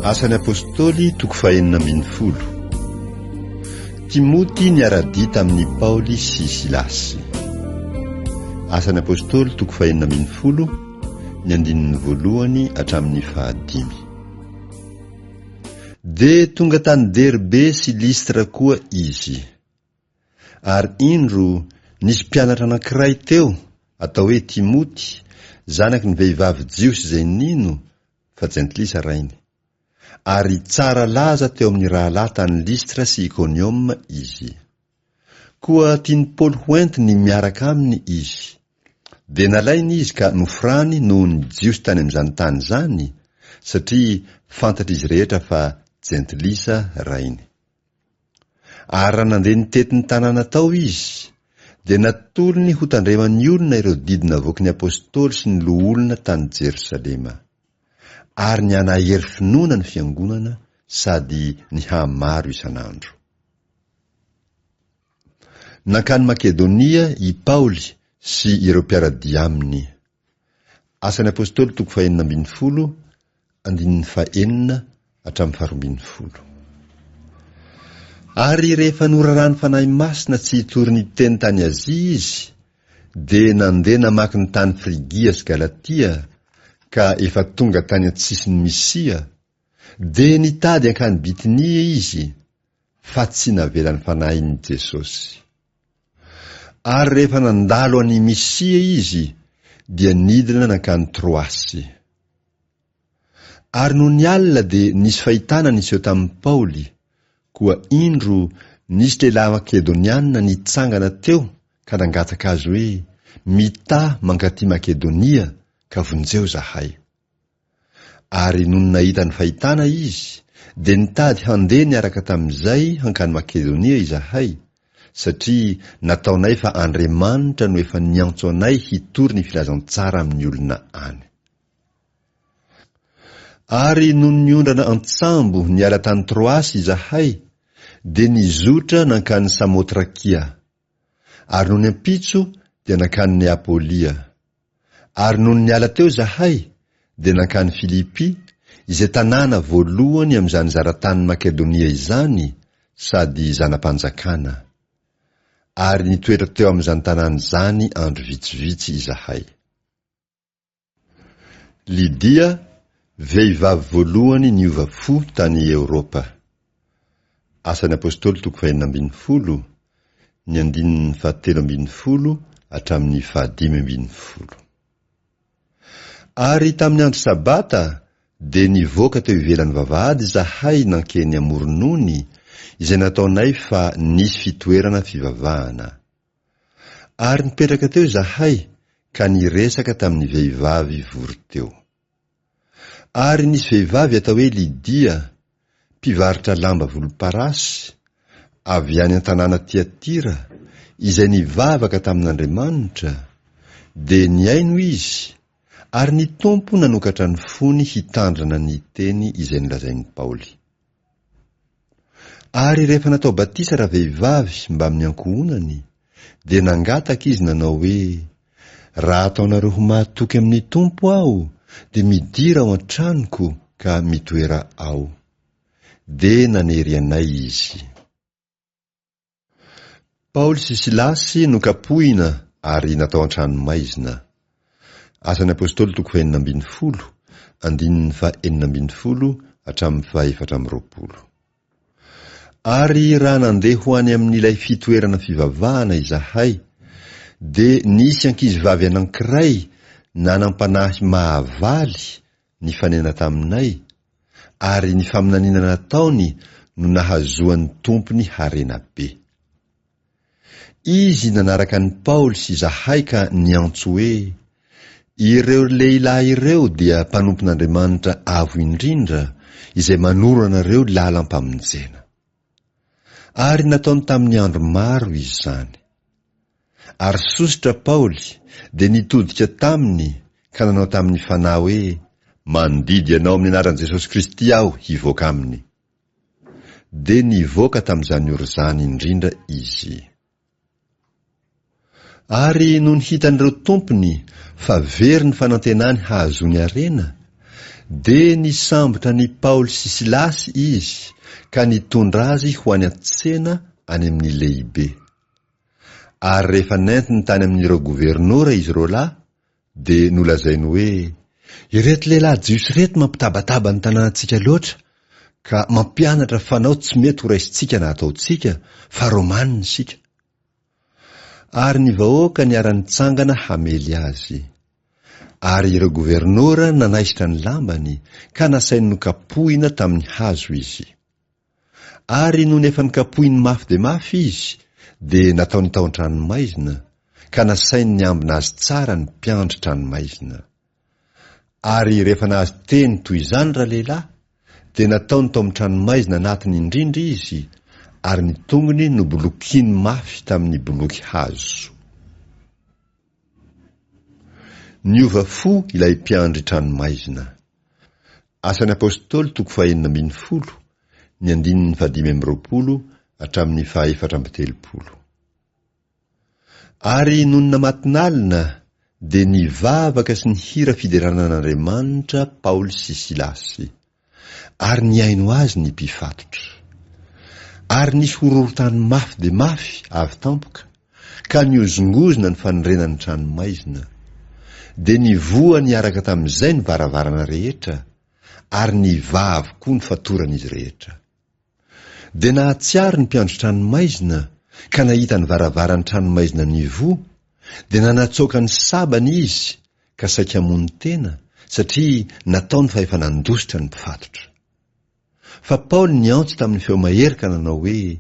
Asan'ny Apôstôly, toko fahenina ambin'ny folo. Timoty niara-dia tamin'i Paoly sy Silasy. Asan'ny Apôstôly, toko fahenina ambin'ny folo, ny andininy voalohany hatramin'ny fahadimy. Dia tonga tany Derbe sy Listra koa izy. Ary indro, nisy mpianatra anankiray teo, atao hoe Timoty, zanaky ny vehivavy jiosy izay nino, fa jentilisa rainy. Ary tsara laza teo amin'ny rahalahy tany Listra sy Ikonioma izy. Koa tian'i Paoly hoentiny miaraka aminy izy. Dia nalainy izy ka noforany noho ny Jiosy tany amin'izany tany izany, satria fantatr'izy rehetra fa jentilisa rainy. Ary raha nandeha nitety ny tanàna tao izy, dia natolony hotandreman'ny olona ireo didy navoaky ny apostoly sy ny loholona tany Jerosalema, ary ny hanahery finoana ny fiangonana sady ny hahamaro isan'andro. Nankany Makedonia i Paoly sy ireo mpiara-dia aminy. Asan'ny Apôstôly toko fahenina ambin'ny folo, andininy fahenina hatramin'ny faharoa ambin'ny folo. Ary rehefa noraràn'ny Fanahy Masina tsy hitory ny Teny tany Azia izy, dia nandeha namaky ny tany Frigia sy Galatia, ka efa tonga tany an-tsisin'i Misia, dia nitady hankany Bitinia izy, fa tsy navelan'ny Fanahin'i Jesosy. Ary rehefa nandalo an'i Mysia izy, dia nidina nankany Troasy. Ary nony alina dia nisy fahitana niseho tamin'i Paoly, koa indro nisy lehilahy Makedoniana nitsangana teo ka nangataka azy hoe, Mità mankaty Makedonia, ka vonjeo zahay. Ary nony nahita ny fahitana izy, dia nitady handeha niaraka tamin'izay hankany Makedonia izahay, satria nataonay fa Andriamanitra no efa niantso anay hitory ny filazantsara amin'ny olona any. Ary nony niondrana an-tsambo niala tany Troasy izahay, dia nizotra nankany Samotrakia. Ary nony ampitso dia nankany Neapolia. Ary nony niala teo izahay, dia nankany Filipia, izay tanàna voalohany amin'izany zara-tanin'i Makedonia izany sady zana-panjakana. Ary nitoetra teo amin'izany tanàna izany andro vitsivitsy izahay. Lydia, vehivavy voalohany niova fo tany Eoropa. Asan'ny Apôstôly toko fahenina ambin'ny folo, ny andininy fahatelo ambin'ny folo hatramin'ny fahadimy ambin'ny folo. Ary tamin'ny andro sabata dia nivoaka teo ivelan'ny vavahady izahay nankeny amoron'ony, izay nataonay fa nisy fitoerana fivavahana. Ary nipetraka teo izahay ka niresaka tamin'ny vehivavy vory teo. Ary nisy vehivavy atao hoe Lydia, mpivarotra lamba volomparasy, avy any an-tanàna Tyatira, izay nivavaka tamin'Andriamanitra, dia nihaino izy, ary ny Tompo nanokatra ny fony hitandrina ny teny izay nolazain'i Paoly. Ary rehefa natao batisa ravehivavy mbamin'ny ankohonany, dia nangataka izy nanao hoe, Raha ataonareo ho mahatoky amin'ny Tompo aho, dia midira ao an-tranoko ka mitoera ao. Dia nanery anay izy. Paoly sy Silasy nokapohina ary natao an-tranomaizina. Asan'ny Apôstôly toko fahenina ambin'ny folo, andininy faha enina ambin'ny folo hatramin'ny faha efatra amby roapolo. Ary raha nandeha ho any amin'ilay fitoerana fivavahana izahay, dia nisy ankizivavy anankiray nanam-panahy mahavaly nifanena taminay, ary ny faminaniana nataony no nahazoany tompony harena be. Izy nanaraka an'i Paoly sy izahay ka niantso hoe, Ireo lehilahy ireo dia mpanompon'Andriamanitra Avo Indrindra izay manoro anareo lalam-pamonjena. Ary nataony tamin'ny andro maro izy izany. Ary sosotra Paoly dia nitodika taminy ka nanao tamin'ny fanahy hoe, Mandidy anao amin'ny anaran'i Jesosy Kristy aho hivoaka aminy. Dia nivoaka tamin'izany ora izany indrindra izy. Ary nony hitan'ireo tompony fa very ny fanantenany hahazoany harena, dia nisambotra an'i Paoly sy Silasy izy ka nitondra azy ho any an-tsena any amin'ny lehibe. Ary rehefa nentiny tany amin'ireo governora izy roalahy, Dia nolazainy hoe, Ireto lehilahy jiosy ireto mampitabataba ny tanànantsika loatra, ka mampianatra fanao tsy mety horaisintsika na hataontsika, fa Romanina isika. Ary ny vahoaka niara-nitsangana hamely azy. Ary ireo governora nanaisotra ny lambany, ka nasainy nokapohina tamin'ny hazo izy. Ary nony efa nikapohiny mafy dia mafy izy, dia nataony tao an-tranomaizina, ka nasainy niambina azy tsara ny mpiandry tranomaizina. Ary rehefa nahazo teny toy izany ralehilahy, dia nataony tao amin'ny tranomaizina anatiny indrindra izy, ary ny tongony nobolokiny mafy tamin'ny boloky hazo. Niova fo ilay mpiandry tranomaizina. Asan'ny Apôstôly toko fahenina ambin'ny folo, ny andininy fahadimy amby roapolo hatramin'ny fahefatra amby telopolo. Ary nonina matinalina dia nivavaka sy nihira fiderana an'Andriamanitra Paoly sy Silasy, ary nihaino azy ny mpifatotra. Ary nisy horohorontany mafy dia mafy avy tampoka, ka nihozongozona ny fanorenan'ny tranomaizina. Dia nivoha niaraka tamin'izay ny varavarana rehetra, ary nivaha avokoa ny fatoran'izy rehetra. Dia nahatsiaro ny mpiandry tranomaizina, ka nahita ny varavaran'ny tranomaizina nivoha, dia nanatsoaka ny sabany izy, ka saika hamono tena, satria nataony fa efa nandositra ny mpifatotra. Fa Paoly niantso tamin'ny feo mahery ka nanao hoe,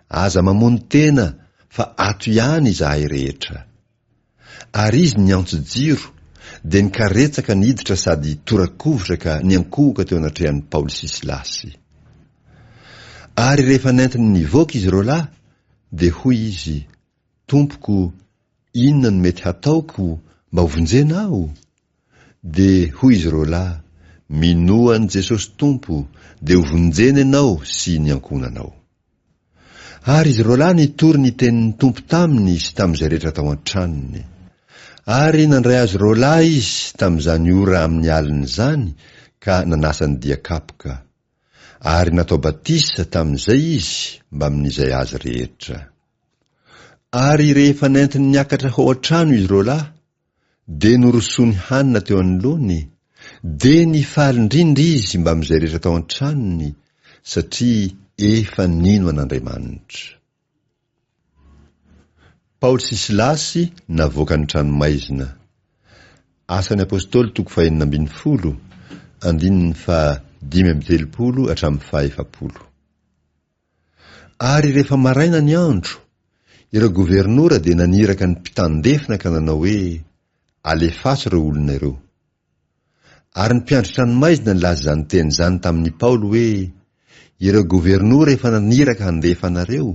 Aza mamono tena, fa ato ihany izahay rehetra. Ary izy niantso jiro, dia nikaretsaka ny hiditra sady tora-kovitra ka niankohoka teo anatrehan'i Paoly sy Silasy. Ary rehefa nentiny nivoaka izy roalahy, dia hoy izy, Tompoko, inona no mety hataoko mba ho vonjena aho? Dia hoy izy roa lahy, Minoa an'i Jesosy Tompo, dia ho vonjena ianao sy ny ankohonanao. Ary izy roa lahy nitory ny tenin'ny Tompo taminy sy tamin'izay rehetra tao an-tranony. Ary nandray azy roa lahy Izy tamin'izany ora amin'ny alina izany ka nanasa ny dia kapoka. Ary natao batisa tamin'izay izy mbamin'izay azy rehetra. Ary rehefa nentiny niakatra ho ao an-trano izy roalahy, dia norosoany hanina teo anoloany, dia nifaly indrindra izy mbamin'izay rehetra tao an-tranony, satria efa nino an'Andriamanitra. Paoly sy Silasy navoaka ny tranomaizina. Asan'ny Apostoly toko fahenina ambin'ny folo, andininy faha dimy amby telopolo hatramin'ny faha efapolo. Ary rehefa maraina ny andro, ireo governora dia naniraka ny mpitandefina ka nanao hoe, Alefaso ireo olona ireo. Ary ny mpiandry tranomaizina nilaza izany teny izany tamin' i Paoly hoe, Ireo governora efa naniraka handefa anareo,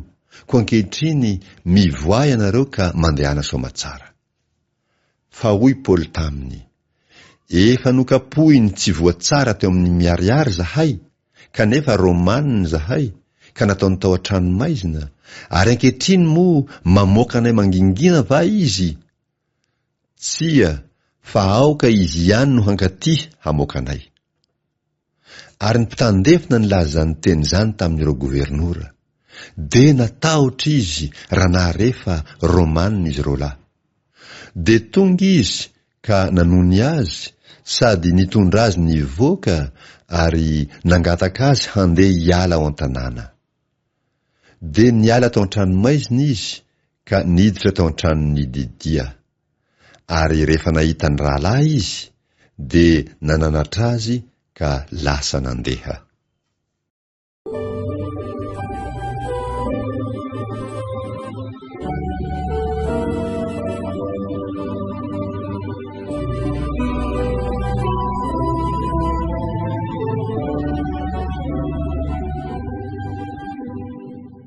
koa ankehitriny mivoaha ianareo ka mandehana soamatsara. Fa hoy Paoly taminy, Efa nokapohin'ny tsy voa tsara teo amin'ny miharihary izahay, kanefa Romanina izahay, ka nataony tao an-tranomaizina, ary ankehitriny moa mamoaka anay mangingina va izy? Tsia, fa aoka izy ihany no hankaty hamoaka anay. Ary ny mpitandefina nilaza izany teny izany tamin'ireo governora, dia natahotra izy raha nahare fa Romanina izy roalahy. Dia tonga izy ka nanony azy sady nitondra azy nivoaka ary nangataka azy handeha hiala ao an-tanàna. Dia niala tao an-tranomaizina izy ka niditra tao an-tranon'i Lydia. Ary rehefa nahita ny rahalahy izy, dia nananatra azy ka lasa nandeha.